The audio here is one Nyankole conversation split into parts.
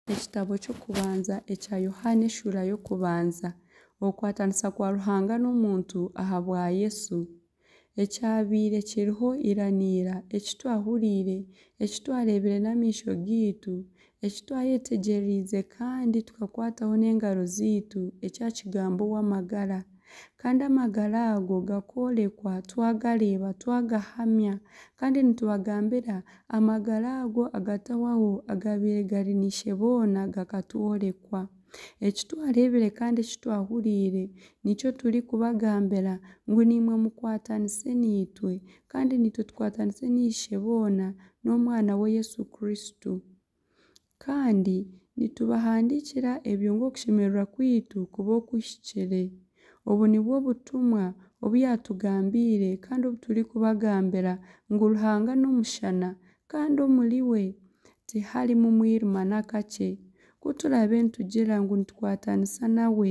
Ekitabo ky'okubanza ekya Yohaana eshuura y'okubanza. Okukwatanisa kwa Ruhanga n'omuntu ahabwa Yesu. Ekyabaire kiriho ira n'ira, eki twahuriire, eki twareebire n'amaisho gaitu, eki twayetegyereriize kandi tukakwataho n'engaro zaitu, ekya Kigambo ow'amagara. Kandi amagara ago gakoorekwa, twagareeba, twagahamya, kandi nitubagambira Amagara ago agatahwaho agaabaire gari naishe boona gakatworekwa. Eki twareebire kandi eki twahuriire nikyo turikubagambira, ngu naimwe mukwatanise naitwe, kandi naitwe tukwatanise naishe boona n'Omwana we Yesu Kristo. Kandi nitubahandiikira ebyo ng'okushemererwa kwaitu kuba okuhikire. Obu nibwo butumwa obu yaatugambiire kandi obu turikubagambira, ngu Ruhanga n'omushana, kandi omuriwe tiharimu mwirima n'akakye. Ku turaabe nitugira ngu nitukwatanisa nawe,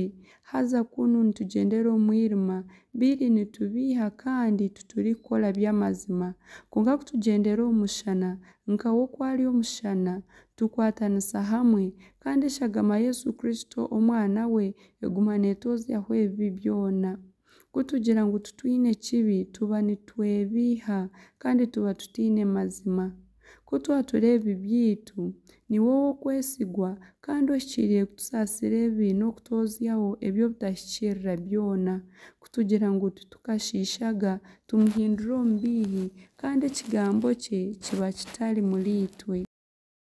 haza kunu nitugyendera omu mwirima, biri nitubiiha kandi titurikukora by'amazima. Kwonka ku tugyendera omu mushana, Nka we oku ari omushana, tukwatanisa hamwe, kandi eshagama Yesu Kristo, Omwana we, eguma neetozyaho ebibi byona. Ku tugira ngu titwine ekibi, tuba nitwebeiha kandi tuba tutaine mazima. Ku twatura ebibi byaitu, niwe ow'okwesigwa kandi ohikiirire kutusaasira ebibi n'okutozyaho eby'obutahikirira byona. kutugira ngu titukashiishaga, tumuhindura omubiihi, kandi ekigambo kye kiba kitari muriitwe.